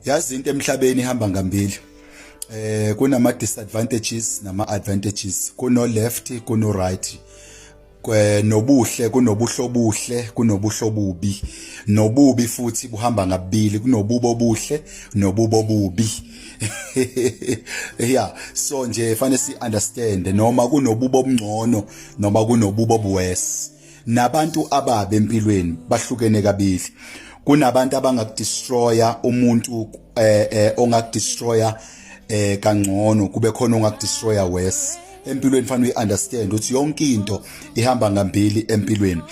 yazi into emhlabeni ihamba ngambili eh kunama disadvantages nama advantages kuno left kuno right nobuhle kunobuhle obuhle kunobuhle obubi nobubi futhi buhamba ngabili kunobubo obuhle nobubo obubi yeah so nje fanele si understand noma kunobubo obungcono noma kunobubo obuwesi nabantu ababe empilweni bahlukene kabili kunabantu abangakudestroya umuntu eh, eh ongakudestroya eh kangcono kube khona ongakudestroya worse empilweni fanele uyiunderstand ukuthi yonke into ihamba ngambili empilweni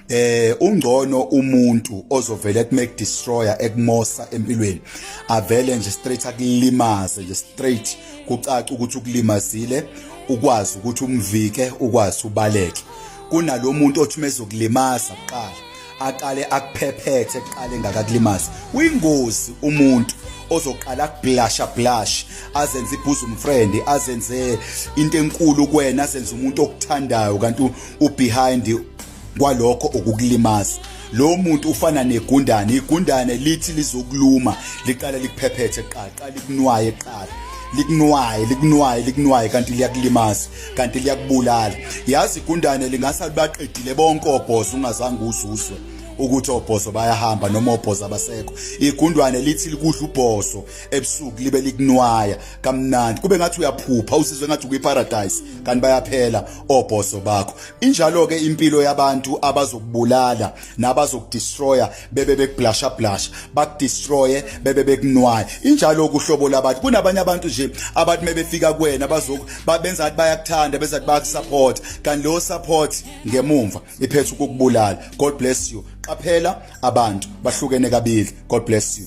eh ungcono umuntu ozovela ekme destroyer ekmosa empilweni avele nje straight akulimaze nje straight kucaca ukuthi ukulimazile ukwazi ukuthi umvike ukwazi ubaleke kunalomuntu othi mezokulimaza kuqala aqale akuphephethe kuqale ngakakulimaza uyingozi umuntu ozoqala kublasha blash azenze ibosom friend azenze into enkulu kuwena azenze umuntu okuthandayo kanti ubehind kwalokho ukukulimaza lo muntu ufana negundane igundane lithi lizokuluma liqala likuphephethe qaqa likunwaye qala likunwaye likunwaye likunwaye kanti liyakulimaza kanti liyakubulala yazi igundane lingasa libaqedile bonke obhozo ungazange uzuzwe ukuthi obhozo bayahamba noma obhozo abasekho igundwane lithi likudla ubhozo ebusuku libe likunwaya kamnandi kube ngathi uyaphupha usizwe ngathi ukuyiparadise kanti bayaphela obhozo bakho Injalo ke impilo yabantu abazokubulala nabazokudestroya bebe bekublasha blasha bakudestroye bebe bekunwaye injalo kuhlobo labantu kunabanye abantu nje abathi mebefika kuwena bazoku babenza athi bayakuthanda bese athi bayakusupport kanti lo support ngemumva iphethe ukukubulala god bless you qaphela abantu bahlukene kabili god bless you